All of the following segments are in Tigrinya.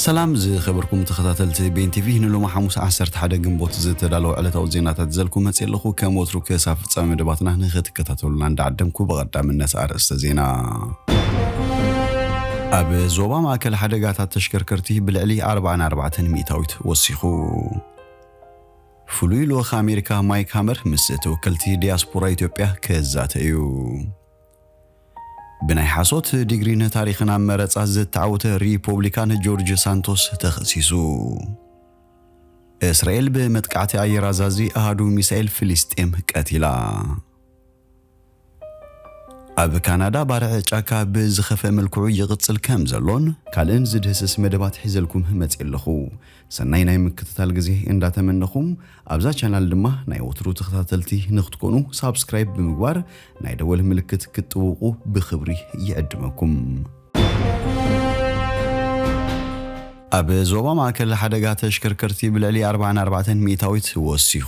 ሰላም ዝኸበርኩም ተኸታተልቲ ቤን ቲቪ ንሎሚ ሓሙስ ዓሰርተ ሓደ ግንቦት ዝተዳለወ ዕለታዊ ዜናታት ይዘልኩ መጽየ ኣለኹ ከም ወትሩ ክሳብ ፍጻሜ መደባትና ንኽትከታተሉና እንዳዓደምኩ ብቐዳምነት ኣርእስተ ዜና ኣብ ዞባ ማእከል ሓደጋታት ተሽከርከርቲ ብልዕሊ ኣርብዓን ኣርባዕተን ሚእታዊት ወሲኹ። ፍሉይ ልኡኽ ኣሜሪካ ማይክ ሃመር ምስ ተወከልቲ ዲያስፖራ ኢትዮጵያ ክዛተ እዩ። ብናይ ሓሶት ዲግሪ ንታሪኽን ኣብ መረጻ ዝተዓወተ ሪፖብሊካን ጆርጅ ሳንቶስ ተኸሲሱ። እስራኤል ብመጥቃዕቲ ኣየር ኣዛዚ ኣሃዱ ሚሳኤል ፍልስጤም ቀቲላ። ኣብ ካናዳ ባርዕ ጫካ ብዝኸፍአ መልክዑ ይቕጽል ከም ዘሎን ካልእን ዝድህስስ መደባት ሒዘልኩም መጽየ ኣለኹ። ሰናይ ናይ ምክትታል ግዜ እንዳ ተመነኹ ኣብዛ ቻናል ድማ ናይ ወትሩ ተኸታተልቲ ንክትኮኑ ሳብስክራይብ ብምግባር ናይ ደወል ምልክት ክትጥውቁ ብኽብሪ ይዕድመኩም። ኣብ ዞባ ማእከል ሓደጋ ተሽከርከርቲ ብልዕሊ ኣርባዓን ኣርባዕተን ሚእታዊት ወሲኹ።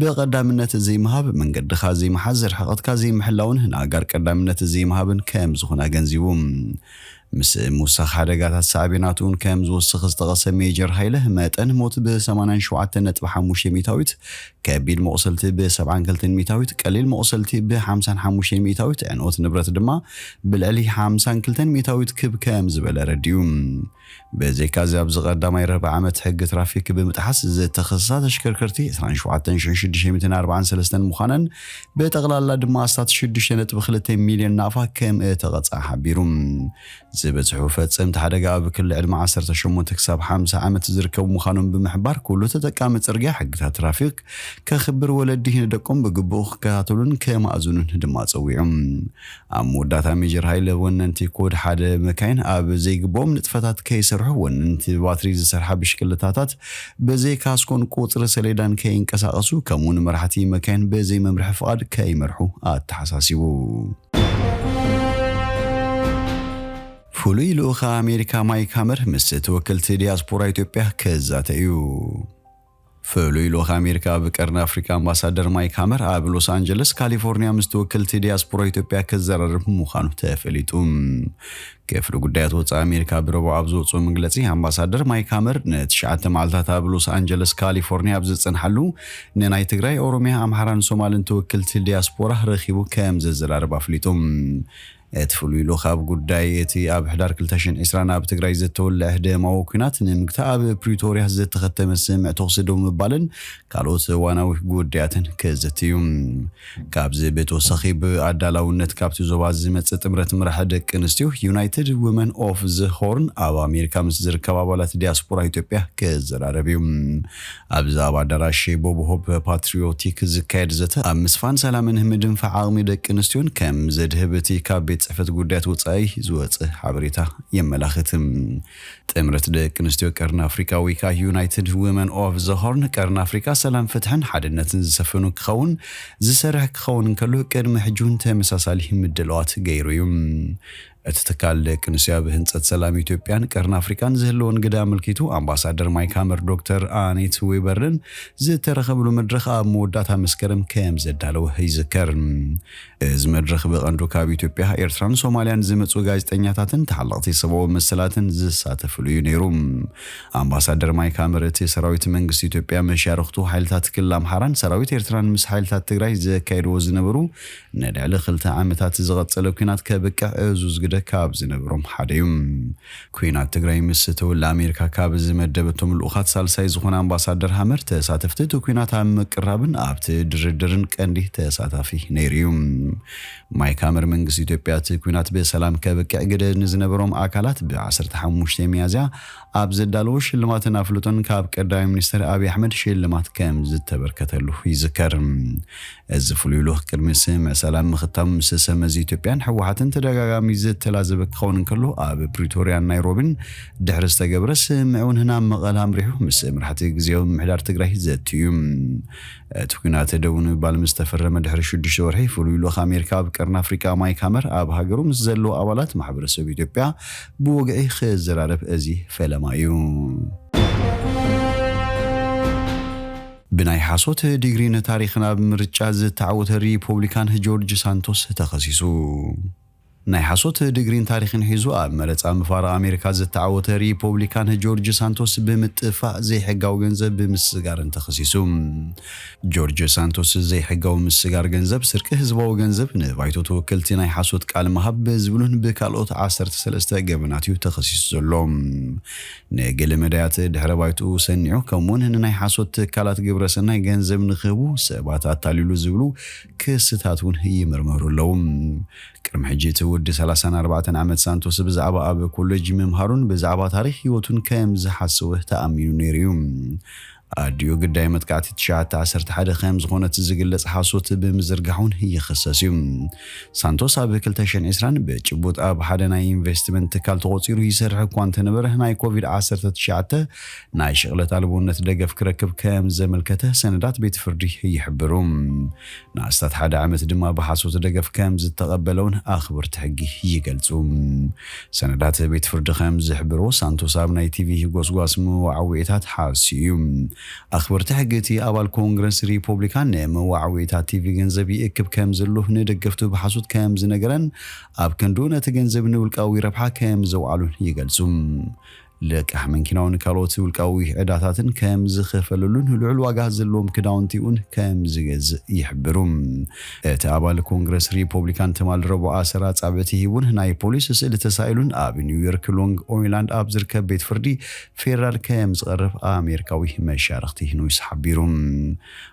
ብቐዳምነት ዘይምሃብ፣ መንገድኻ ዘይምሓዝ፣ ርሕቐትካ ዘይምሕላውን ንኣጋር ቀዳምነት ዘይምሃብን ከም ዝኾነ ኣገንዚቡ። ምስ ምውሳኽ ሓደጋታት ሳዕቤናት እውን ከም ዝውስኽ ዝጠቐሰ ሜጀር ሃይለ፣ መጠን ሞት ብ ሰማንያን ሸውዓተን ነጥቢ ሓሙሽተ ሚእታዊት፣ ከቢድ መቑሰልቲ ብ ሰብዓን ክልተን ሚእታዊት፣ ቀሊል መቑሰልቲ ብ ሓምሳን ሓሙሽተን ሚእታዊት፣ ዕንወት ንብረት ድማ ብልዕሊ ሓምሳን ክልተን ሚእታዊት ክብ ከም ዝበለ ኣረዲኡ። ብዘይካ'ዚ ኣብዚ ቀዳማይ ርብዒ ዓመት ሕጊ ትራፊክ ብምጥሓስ ዝተኸሰሳ ተሽከርከርቲ ዕስራን ሸውዓተን ሽሕን ሽዱሽተ ሚእትን ኣርባዓን ሰለስተን ምዃነን ብጠቕላላ ድማ ኣስታት ሽዱሽተ ነጥቢ ክልተ ሚልዮን ናቕፋ ከምእተቐጽዓ ሓቢሩ። ዝበዝሑ ፈጸምቲ ሓደጋ ኣብ ክሊ ዕድመ ዓሰርተ ሸሞንተ ክሳብ ሓምሳ ዓመት ዝርከቡ ምዃኖም ብምሕባር ኩሉ ተጠቃሚ ጽርግያ ሕግታት ትራፊክ ከኽብር ወለዲ ንደቆም ብግቡእ ክከታተሉን ከማእዝኑን ድማ ጸዊዑ። ኣብ መወዳእታ ሜጀር ሃይለ ወነንቲ ኮድ ሓደ መካይን ኣብ ዘይግብኦም ንጥፈታት ከይሰርሑ ወነንቲ ብባትሪ ዝሰርሓ ብሽክለታታት ብዘይ ካስኮን ቁፅሪ ሰሌዳን ከይንቀሳቐሱ ከምኡውን መራሕቲ መካይን ብዘይ መምርሒ ፍቓድ ከይመርሑ ኣተሓሳሲቡ። ፍሉይ ልኡኽ ኣሜሪካ ማይክ ሃመር ምስ ተወከልቲ ዲያስፖራ ኢትዮጵያ ክዛተ እዩ። ፍሉይ ልኡኽ ኣሜሪካ ኣብ ቀርኒ ኣፍሪካ ኣምባሳደር ማይክ ሃመር ኣብ ሎስ ኣንጀለስ ካሊፎርኒያ ምስ ተወከልቲ ዲያስፖራ ኢትዮጵያ ክዘራረብ ምዃኑ ተፈሊጡ። ክፍሊ ጉዳያት ወፃኢ ኣሜሪካ ብረቡዕ ኣብ ዘውፅኦ መግለፂ ኣምባሳደር ማይክ ሃመር ንትሽዓተ መዓልታት ኣብ ሎስ ኣንጀለስ ካሊፎርኒያ ኣብ ዝፀንሓሉ ንናይ ትግራይ፣ ኦሮሚያ፣ ኣምሓራን ሶማልን ተወከልቲ ዲያስፖራ ረኺቡ ከምዘዘራርብ ኣፍሊጡ። እቲ ፍሉይ ልኡኽ ኣብ ጉዳይ እቲ ኣብ ሕዳር ክልተ ሽሕን ዕስራን ኣብ ትግራይ ዝተወልዐ ደማዊ ኲናት ንምግታእ ኣብ ፕሪቶርያ ዝተኸተመ ስምምዕ ተኹሲ ደው ምባልን ካልኦት እዋናዊ ጉዳያትን ከዘቲ እዩ። ካብዚ ብተወሳኺ ብኣዳላውነት ካብቲ ዞባ ዝመጽእ ጥምረት መራሒ ደቂ ኣንስትዮ ዩናይትድ ውመን ኦፍ ዘ ሆርን ኣብ ኣሜሪካ ምስ ዝርከባ ኣባላት ዲያስፖራ ኢትዮጵያ ክዘራረብ እዩ። ኣብዚ ኣብ ኣዳራሽ ሼይቦብሆፕ ፓትሪዮቲክ ዝካየድ ዘተ፣ ኣብ ምስፋን ሰላምን ምድንፋዕ ዓቕሚ ደቂ ኣንስትዮን ከም ዘድህብ እቲ ካብ ቤት ጽሕፈት ጉዳያት ወጻኢ ዝወጽእ ሓበሬታ የመላኽት። ጥምረት ደቂ ኣንስትዮ ቀርኒ ኣፍሪቃ ወይከኣ ዩናይትድ ዊመን ኦቭ ዘ ሆርን፣ ቀርኒ ኣፍሪቃ ሰላም፣ ፍትሕን ሓድነትን ዝሰፈኑ ክኸውን ዝሰርሕ ክኸውን እንከሎ፣ ቅድሚ ሕጂ'ውን ተመሳሳሊ ምድላዋት ገይሩ እዩ። እቲ ትካል ደቅንስትዮ ኣብ ህንፀት ሰላም ኢትዮጵያን ቀርኒ ኣፍሪካን ዝህልወን ግደ ኣመልኪቱ ኣምባሳደር ማይክ ሃመር ዶክተር ኣኔት ዌበርን ዝተረኸብሉ መድረኽ ኣብ መወዳእታ መስከረም ከም ዘዳለወ ይዝከር። እዚ መድረኽ ብቐንዱ ካብ ኢትዮጵያ፣ ኤርትራን ሶማልያን ዝመፁ ጋዜጠኛታትን ተሓለቕቲ ሰብኣዊ መሰላትን ዝሳተፍሉ እዩ ነይሩ። ኣምባሳደር ማይክ ሃመር እቲ ሰራዊት መንግስቲ ኢትዮጵያ መሻርኽቱ ሓይልታት ክልል ኣምሓራን ሰራዊት ኤርትራን ምስ ሓይልታት ትግራይ ዘካይድዎ ዝነበሩ ንልዕሊ ክልተ ዓመታት ዝቐፀለ ኲናት ከብቅዕ ዕዙዝ ግደ ካብ ዝነበሮም ሓደ ዩ። ኲናት ትግራይ ምስ ተወልዐ ኣሜሪካ ካብ ዝመደበቶም ልኡኻት ሳልሳይ ዝኾነ ኣምባሳደር ሃመር ተሳተፍቲ እቲ ኲናት ኣብ ምቅራብን ኣብቲ ድርድርን ቀንዲ ተሳታፊ ነይሩ ዩ። ማይክ ሃመር መንግስቲ ኢትዮጵያ እቲ ኲናት ብሰላም ከብቅዕ ግደ ንዝነበሮም ኣካላት ብ ዓሰርተ ሓሙሽተ ሚያዝያ ኣብ ዘዳለዎ ሽልማትን ኣፍልጦን ካብ ቀዳማይ ሚኒስተር ኣብይ ኣሕመድ ሽልማት ከምዝተበርከተሉ ይዝከር። እዚ ፍሉይ ልኡኽ ቅድሚ ስምምዕ ሰላም ምኽታሙ ምስ ሰብመዚ ኢትዮጵያን ህወሓትን ተደጋጋሚ ዘተላዘበ ክኸውን እንከሎ ኣብ ፕሪቶርያን ናይሮቢን ድሕሪ ዝተገብረ ስምምዕ እውን ናብ መቐለ ኣምሪሑ ምስ መራሕቲ ግዝያዊ ምምሕዳር ትግራይ ዘትዩ እዩ። እቲ ኲናት ደው ንምባል ምስ ተፈረመ ድሕሪ ሽዱሽተ ወርሒ ፍሉይ ልኡኽ ኣሜሪካ ኣብ ቀርኒ ኣፍሪቃ ማይክ ሃመር ኣብ ሃገሩ ምስ ዘለዉ ኣባላት ማሕበረሰብ ኢትዮጵያ ብወግዒ ክዝራረብ እዚ ፈለማ እዩ። ብናይ ሓሶት ዲግሪ ንታሪኽን ኣብ ምርጫ ዝተዓወተ ሪፖብሊካን ጆርጅ ሳንቶስ ተኸሲሱ። ናይ ሓሶት ዲግሪን ታሪኽን ሒዙ ኣብ መረጻ ምፋራ ኣሜሪካ ዝተዓወተ ሪፖብሊካን ጆርጅ ሳንቶስ ብምጥፋእ ዘይሕጋዊ ገንዘብ ብምስስጋርን ተኸሲሱ። ጆርጆ ሳንቶስ ዘይሕጋዊ ምስጋር ገንዘብ፣ ስርቂ ህዝባዊ ገንዘብ፣ ንባይቶ ተወከልቲ ናይ ሓሶት ቃል ምሃብ ብዝብሉን ብካልኦት ዓሰርተ ሰለስተ ገበናት እዩ ተኸሲሱ ዘሎ። ንገለ መዳያት ድሕረ ባይትኡ ሰኒዑ ከምኡ'ውን ንናይ ሓሶት ትካላት ግብረ ሰናይ ገንዘብ ንክህቡ ሰባት ኣታሊሉ ዝብሉ ክስታት እውን ይምርመሩ ኣለዉ። ቅድሚ ሕጂ እቲ ወዲ ሰላሳን ኣርባዕተን ዓመት ሳንቶስ ብዛዕባ ኣብ ኮለጅ ምምሃሩን ብዛዕባ ታሪኽ ህይወቱን ከም ዝሓሰወ ተኣሚኑ ነይሩ እዩ። ኣዲኡ ግዳይ መጥቃዕቲ ትሽዓተ ዓሰርተ ሓደ ከም ዝኾነት ዝግለጽ ሓሶት ብምዝርጋሕ'ውን ይኽሰስ እዩ። ሳንቶስ ኣብ ክልተ ሽሕን ዕስራን ብጭቡጥ ኣብ ሓደ ናይ ኢንቨስትመንት ትካል ተቖጺሩ ይሰርሕ እኳ እንተነበረ ናይ ኮቪድ ዓሰርተ ትሽዓተ ናይ ሽቕለት ኣልቦነት ደገፍ ክረክብ ከም ዘመልከተ ሰነዳት ቤት ፍርዲ ይሕብሩ። ንኣስታት ሓደ ዓመት ድማ ብሓሶት ደገፍ ከም ዝተቐበለ'ውን ኣኽበርቲ ሕጊ ይገልጹ። ሰነዳት ቤት ፍርዲ ከም ዝሕብርዎ፣ ሳንቶስ ኣብ ናይ ቲቪ ጎስጓስ መወዓውዒታት ሓስዩ እዩ። ኣኽበርቲ ሕጊ እቲ ኣባል ኮንግረስ ሪፖብሊካን ንመወዓውዒታት ቲቪ ገንዘብ ይእክብ ከም ዘሎ ንደገፍቱ ብሓሶት ከም ዝነገረን ኣብ ክንድኡ ነቲ ገንዘብ ንውልቃዊ ረብሓ ከም ዘውዓሎን ይገልጹ። ልቃሕ መንኪናውን ካልኦት ውልቃዊ ዕዳታትን ከም ዝኸፈለሉን ልዑል ዋጋ ዘለዎም ክዳውንቲ'ውን ከም ዝገዝእ ይሕብሩ። እቲ ኣባል ኮንግረስ ሪፖብሊካን ትማል ረቡዕ ኣሰር ኣጻብዕቲ ሂቡን ናይ ፖሊስ ስእሊ ተሳኢሉን ኣብ ኒውዮርክ ሎንግ ኦይላንድ ኣብ ዝርከብ ቤት ፍርዲ ፌደራል ከም ዝቐርብ ኣሜሪካዊ መሻርኽቲ ኖይስ ሓቢሩ።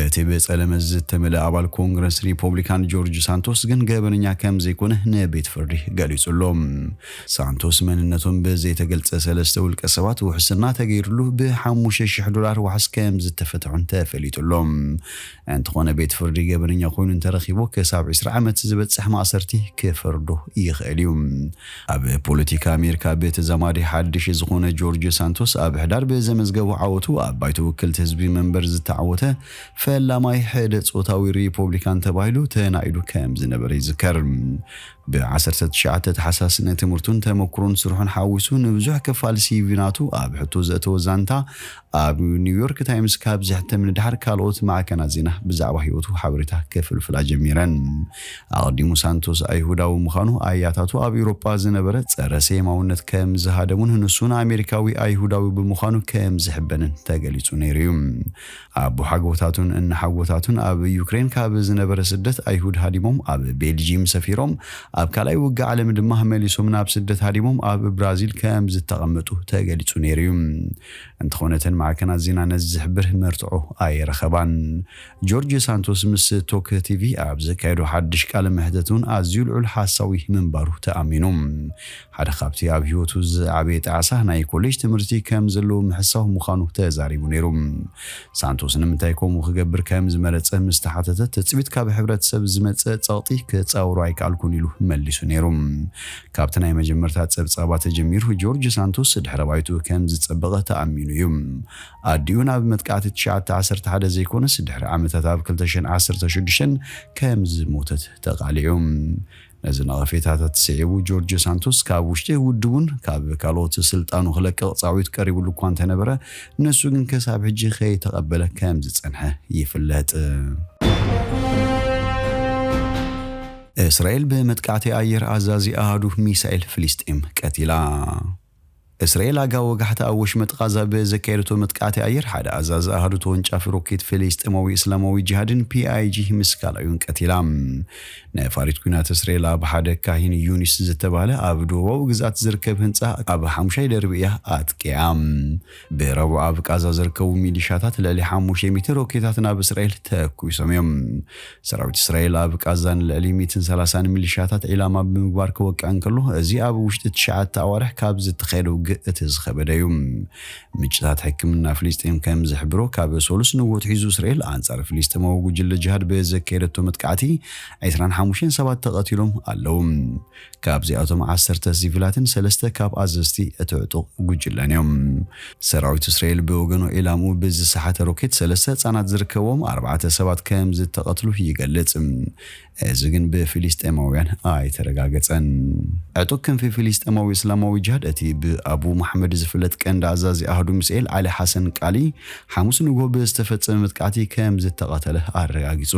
እቲ ብጸለመ ዝተመልኣ ኣባል ኮንግረስ ሪፖብሊካን ጆርጅ ሳንቶስ ግን ገበነኛ ከም ዘይኮነ ንቤት ፍርዲ ገሊጹ ኣሎ። ሳንቶስ መንነቶም ብዘይተገልጸ ሰለስተ ውልቀ ሰባት ውሕስና ተገይርሉ ብ ሓሙሽተ ሽሕ ዶላር ዋሕስ ከም ዝተፈትሑን ተፈሊጡ ኣሎ። እንተኾነ ቤት ፍርዲ ገበነኛ ኮይኑ እንተረኺቡ ክሳብ ዕስራ ዓመት ዝበጽሕ ማእሰርቲ ክፈርዶ ይኽእል እዩ። ኣብ ፖለቲካ ኣሜሪካ ብተዛማዲ ሓድሽ ዝኾነ ጆርጅ ሳንቶስ ኣብ ሕዳር ብዘመዝገቦ ዓወቱ ኣብ ባይቶ ውክልቲ ህዝቢ መንበር ዝተዓወተ ፈላማይ ሕደ ጾታዊ ሪፖብሊካን ተባሂሉ ተናኢዱ ከም ዝነበረ ይዝከር። ብ ዓሰርተ ትሽዓተ ታሕሳስ ንትምህርቱን ተመኩሮን ስርሑን ሓዊሱ ንብዙሕ ክፋል ሲቪ ናቱ ኣብ ሕቶ ዘእተወ ዛንታ ኣብ ኒውዮርክ ታይምስ ካብ ዘሕትም ንደሓር ካልኦት ማዕከናት ዜና ብዛዕባ ህይወቱ ሓበሬታ ክፍልፍላ ጀሚረን። ኣቐዲሙ ሳንቶስ ኣይሁዳዊ ምዃኑ፣ ኣያታቱ ኣብ ኤውሮጳ ዝነበረ ጸረ ሴማውነት ከም ዝሃደሙን ንሱ ንኣሜሪካዊ ኣይሁዳዊ ብምዃኑ ከም ዝሕበንን ተገሊጹ ነይሩ እዩ። ኣቦሓጎታቱን እነሓጎታቱን ኣብ ዩክሬን ካብ ዝነበረ ስደት ኣይሁድ ሃዲሞም ኣብ ቤልጂም ሰፊሮም፣ ኣብ ካልኣይ ውግእ ዓለም ድማ መሊሶም ናብ ስደት ሃዲሞም ኣብ ብራዚል ከም ዝተቐመጡ ተገሊጹ ነይሩ እዩ። እንተኾነ እተን ማዕከናት ዜና ነዚ ዝሕብር መርትዖ ኣይረኸባን። ጆርጅ ሳንቶስ ምስ ቶክ ቲቪ ኣብ ዘካየዶ ሓድሽ ቃለ መሕተት እውን ኣዝዩ ልዑል ሓሳዊ ምንባሩ ተኣሚኑ። ሓደ ካብቲ ኣብ ህይወቱ ዝዓበየ ጣዕሳ ናይ ኮሌጅ ትምህርቲ ከም ዘለዎ ምሕሳው ምዃኑ ተዛሪቡ ነይሩ። ሳንቶስ ንምንታይ ከምኡ ክገብር ከም ዝመረጸ ምስ ተሓተተ ትጽቢት ካብ ሕብረተሰብ ዝመጸ ጸቕጢ ክጻወሮ ኣይከኣልኩን ኢሉ መሊሱ ነይሩ። ካብቲ ናይ መጀመርታ ጸብጻባ ተጀሚሩ ጆርጅ ሳንቶስ ድሕረ ባይትኡ ከም ዝጸበቐ ተኣሚኑ እዩ። ኣዲኡ ናብ መጥቃዕቲ ትሽዓተ ዓሰርተ ሓደ ዘይኮነስ ድሕሪ ዓመታት ኣብ ክልተ ሽሕን ዓሰርተ ሽዱሽተን ከም ዝሞተት ተቓሊዑ። ነዚ ነቐፌታታት ስዒቡ ጆርጅ ሳንቶስ ካብ ውሽጢ ውድቡን ካብ ካልኦት ስልጣኑ ክለቅቕ ጻዊት ቀሪብሉ እኳ እንተነበረ ንሱ ግን ክሳብ ሕጂ ከይተቐበለ ከም ዝጸንሐ ይፍለጥ። እስራኤል ብመጥቃዕቲ ኣየር ኣዛዚ ኣሃዱ ሚሳኤል ፍልስጤም ቀቲላ። እስራኤል ኣጋ ወጋሕታ ኣብ ወሽመጥ ቓዛ ብዘካየደቶ መጥቃዕቲ ኣየር ሓደ ኣዛዚ ኣሃዱ ተወንጫፊ ሮኬት ፍልስጤማዊ እስላማዊ ጅሃድን፣ PIG፣ ምስ ካልኣዩን ቀቲላ። ነፋሪት ኲናት እስራኤል ኣብ ሓደ ካሂን ዩኒስ ዝተባህለ ኣብ ደቡባዊ ግዝኣት ዝርከብ ህንጻ ኣብ ሓሙሻይ ደርቢ እያ ኣጥቂዓ። ብረቡዕ ኣብ ቃዛ ዝርከቡ ሚሊሻታት ልዕሊ ሓሙሽተ ሚእቲ ሮኬታት ናብ እስራኤል ተኩሶም እዮም። ሰራዊት እስራኤል ኣብ ቃዛ ንልዕሊ ሚእትን ሰላሳን ሚሊሻታት ዒላማ ብምግባር ክወቅዕ እንከሎ፣ እዚ ኣብ ውሽጢ ትሽዓተ ኣዋርሕ ካብ ዝተኻየደ ውግእ እቲ ዝኸበደ እዩ። ምንጭታት ሕክምና ፍልስጤም ከም ዝሕብሮ፣ ካብ ሰሉስ ንግሆ ኣትሒዙ እስራኤል ኣንጻር ፍልስጤማዊ ጉጅለ ጅሃድ ብዘካየደቶ መጥቃዕቲ ዕስራን ሓሙሽተን ሰባት ተቐቲሎም ኣለዉ። ካብዚኣቶም ዓሰርተ ሲቪላትን ሰለስተ ካብ ኣዘዝቲ እቲ ዕጡቕ ጉጅለን እዮም። ሰራዊት እስራኤል ብወገኑ ዒላምኡ ብዝሰሓተ ሮኬት ሰለስተ ህጻናት ዝርከብዎም ኣርባዕተ ሰባት ከምዝተቐትሉ ይገልጽ። እዚ ግን ብፊሊስጤማውያን ኣይተረጋገጸን። ዕጡቕ ክንፊ ፊሊስጤማዊ እስላማዊ ጅሃድ እቲ ብኣቡ መሓመድ ዝፍለጥ ቀንዲ ኣዛዚ ኣሃዱ ሚሳኤል ዓሊ ሓሰን ቃሊ ሓሙስ ንግሆ ብዝተፈጸመ መጥቃዕቲ ከምዝተቐተለ ኣረጋጊጹ።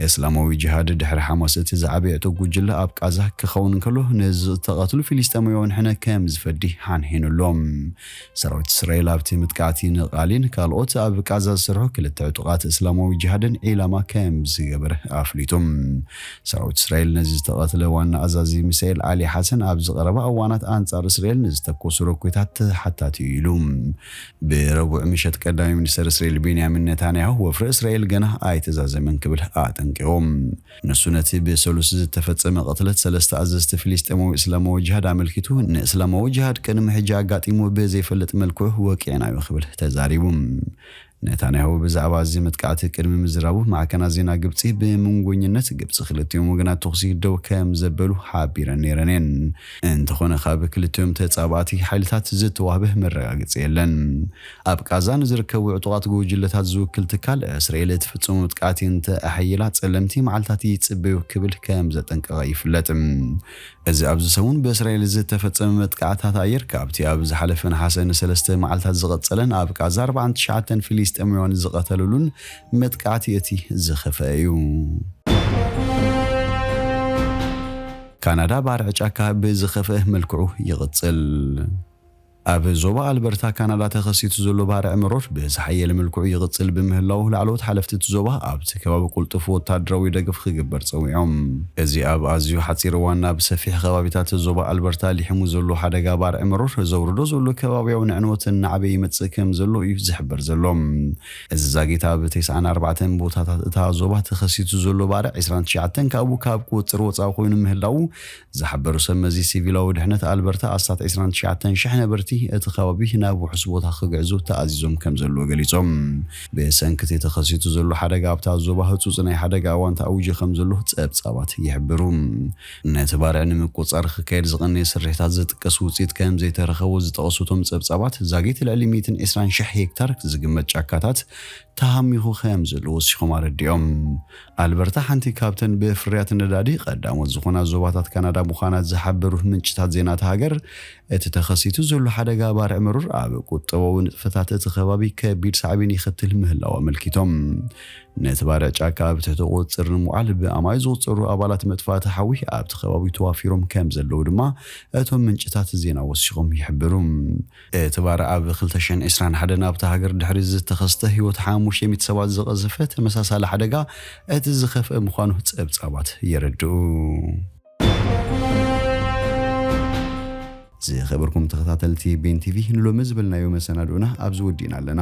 ኤስላማዊ ጂሃድ ድሕሪ ሓማስ እቲ ዝዓበየቶ ጉጅለ ኣብ ቃዛ ክኸውን እንከሎ ንዝተቐትሉ ፊሊስጤማዊያን ሕነ ከም ዝፈዲ ሓንሒኑ ኣሎ። ሰራዊት እስራኤል ኣብቲ ምጥቃዕቲ ንቓሊን ካልኦት ኣብ ቃዛ ዝሰርሑ ክልተ ዕጡቓት እስላማዊ ጂሃድን ዒላማ ከም ዝገበረ ኣፍሊጡ። ሰራዊት እስራኤል ነዚ ዝተቐትለ ዋና ኣዛዚ ሚሳኤል ዓሊ ሓሰን ኣብዚ ቀረባ እዋናት ኣንጻር እስራኤል ንዝተኮሱ ሮኬታት ተሓታቲ'ዩ ኢሉ። ብረቡዕ ምሸት ቀዳማይ ሚኒስተር እስራኤል ቤንያሚን ነታንያሁ ወፍሪ እስራኤል ገና ኣይተዛዘመን ክብል ኣጠንቂቑ። ንሱ ነቲ ብሰሉስ ዝተፈጸመ ቅትለት ሰለስተ ኣዘዝቲ ፍልስጤማዊ እስላማዊ ጅሃድ ኣመልኪቱ ንእስላማዊ ጅሃድ ቅድሚ ሕጂ ኣጋጢሙ ብዘይፈልጥ መልክዑ ወቂዕናዮ ክብል ተዛሪቡ። ነታንያሁ ብዛዕባ እዚ መጥቃዕቲ ቅድሚ ምዝራቡ ማዕከናት ዜና ግብጺ ብምንጎኝነት ግብጺ ክልቲኦም ወገናት ተኹሲ ደው ከምዘበሉ ሓቢረን ነይረን እየን። እንተኾነ ካብ ክልቲኦም ተጻባእቲ ሓይልታት ዝተዋህበ መረጋገጺ የለን። ኣብ ቓዛ ንዝርከቡ ዕጡቓት ጉጅለታት ዝውክል ትካል፣ እስራኤል እትፍጽሞ መጥቃዕቲ እንተ ኣሐይላ ጸለምቲ መዓልታት ይጽበዩ ክብል ከም ዘጠንቀቐ ይፍለጥ። እዚ ኣብዚ ሰሙን ብእስራኤል ዝተፈጸመ መጥቃዕትታት ኣየር፣ ካብቲ ኣብ ዝሓለፈ ነሓሰ ንሰለስተ መዓልታት ዝቐጸለን ኣብ ቓዛ ኣርባዓን ትሽዓተን ፊሊስጤማውያን ዝቐተሉሉን መጥቃዕቲ እቲ ዝኸፍኣ እዩ። ካናዳ ባርዕ ጫካ ብዝኸፍኤ መልክዑ ይቕጽል። ኣብ ዞባ ኣልበርታ ካናዳ ተኸሲቱ ዘሎ ባርዕ መሮር ብዝሓየለ መልክዑ ይቕጽል ብምህላዉ ላዕለዎት ሓለፍቲ እቲ ዞባ ኣብቲ ከባቢ ቁልጡፍ ወታደራዊ ደገፍ ክግበር ጸዊዖም። እዚ ኣብ ኣዝዩ ሓጺር እዋን ናብ ሰፊሕ ከባቢታት ዞባ ኣልበርታ ሊሕሙ ዘሎ ሓደጋ ባርዕ መሮር ዘውርዶ ዘሎ ከባብያዊ ንዕንወት እናዓበየ ይመጽእ ከምዘሎ እዩ ዝሕበር ዘሎ። እዚ ዛጊት ኣብ ቴስዓን ኣርባዕተን ቦታታት እታ ዞባ ተኸሲቱ ዘሎ ባርዕ ዕስራን ትሽዓተን ካብኡ ካብ ቁፅፅር ወፃኢ ኮይኑ ምህላዉ ዝሓበሩ ሰብ መዚ ሲቪላዊ ድሕነት ኣልበርታ ኣስታት ዕስራን ትሽዓተን ሽሕ ነበርቲ እቲ ከባቢ ናብ ውሑስ ቦታ ክግዕዙ ተኣዚዞም ከምዘለዉ ገሊፆም። ብሰንኪ እቲ ተኸሲቱ ዘሎ ሓደጋ ኣብታ ዞባ ህፁፅ ናይ ሓደጋ እዋን ተኣዊጁ ከምዘሎ ፀብፃባት ይሕብሩ። ነቲ ባርዕ ንምቁጽጻር ክካየድ ዝቐነየ ስርሒታት ዝጥቀስ ውጽኢት ከም ዘይተረኸቦ ዝጠቐሱ እቶም ጸብጻባት፣ ዛጊት ልዕሊ ሚእትን ዕስራን ሽሕ ሄክታር ዝግመት ጫካታት ተሃሚኹ ከም ዘሎ ወሲኾም ኣረዲኦም። ኣልበርታ ሓንቲ ካብተን ብፍርያት ነዳዲ ቀዳሞት ዝኾና ዞባታት ካናዳ ምዃና ዝሓበሩ ምንጭታት ዜና እታ ሃገር፣ እቲ ተኸሲቱ ዘሎ ሓደጋ ባርዕ መሮር ኣብ ቁጠባዊ ንጥፈታት እቲ ከባቢ ከቢድ ሳዕቤን የኸትል ምህላዉ ኣመልኪቶም። ነቲ ባርዕ ጫካ ኣብ ትሕቲ ቁፅፅር ንምውዓል ብኣማኢት ዝቑፀሩ ኣባላት መጥፋእቲ ሓዊ ኣብቲ ከባቢ ተዋፊሮም ከምዘለዉ ድማ እቶም ምንጭታት ዜና ወሲኾም ይሕብሩ። እቲ ባርዕ ኣብ ክልተ ሽሕን ዕስራን ሓደን ኣብታ ሃገር ድሕሪ ዝተኸስተ ህይወት ሓሙሽተ ሚእቲ ሰባት ዝቐዘፈ ተመሳሳሊ ሓደጋ እቲ ዝኸፍኣ ምዃኑ ፀብፃባት የረድኡ። ዝኸበርኩም ተኸታተልቲ ቤን ቲቪ ንሎሚ ዝበልናዮ መሰናድኦና ኣብዚ ወዲእና ኣለና።